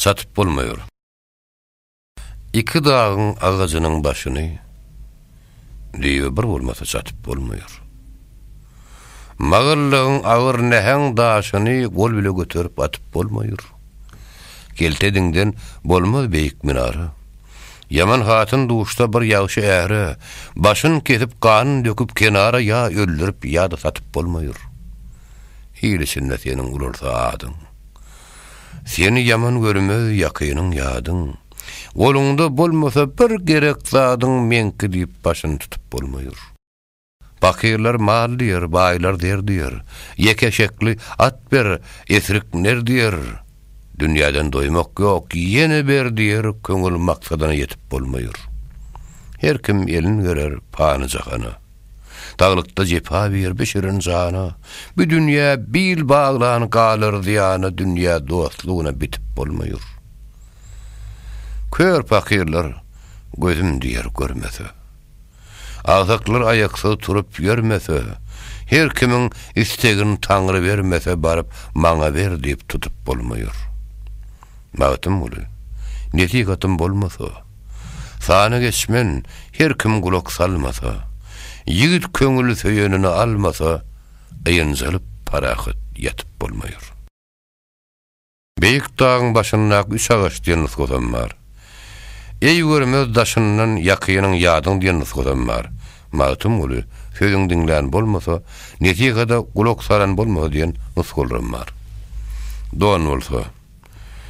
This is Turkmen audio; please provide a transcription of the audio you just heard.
Satyp bolmaýar. Iki dagyň agajynyň başyny düýe bir bolmasa satyp bolmaýar. Magallagyň agyr näheň daşyny gol bile göterip atyp bolmaýar. Kelte diňden bolmaz beýik minara. Ýaman hatyn duşsa bir ýagşy äre, başyn kesip ganyn döküp kenara ýa öldürip ýa-da satyp bolmaýar. Il içinde seniň ulalsa adyň. Seni ýaman görmez ýakynyň ýadyň, Goluňda bolmasa bir gerek zadyň Meňki diýip başyny tutup bolmaýr. Pakyrlar mal diýer, baýlar zer diýer, Ýeke şekli at ber, esrik ner diýer, Dünýäden doýmak ýok, ýene ber diýer, Köňül maksadyna ýetip bolmaýr. Her kim elin gerer pany jahana. Daglykda jepa bir bişiren jana, Bu dünýä bil baglan galar zyýana Dünýä dostlugyna bitip bolmaýur. Kör pakyrlar gözüm diýer görmese. Agsaklar aýaksyz turup ýörmese, Her kimiň istegin Taňry bermese Baryp maňa ber diýip tutup bolmaýur. Magtymguly, Nesihatym bolmasa. Sana geçmen, her kim gulak salmasa, Ýigit köňül söýenini almasa, Ýynjalyp parahat ýatyp bolmaýar. Beýik dagyň başyndaky üç agaç diýen nusgasam bar. Eý görmez daşyndan ýakynyň ýadyň diýen nusgasam bar. Magtymguly, Sözüň diňlän bolmasa, Nesihada gulak salan bolmasa diýen nusgalaram bar. Don bolsa.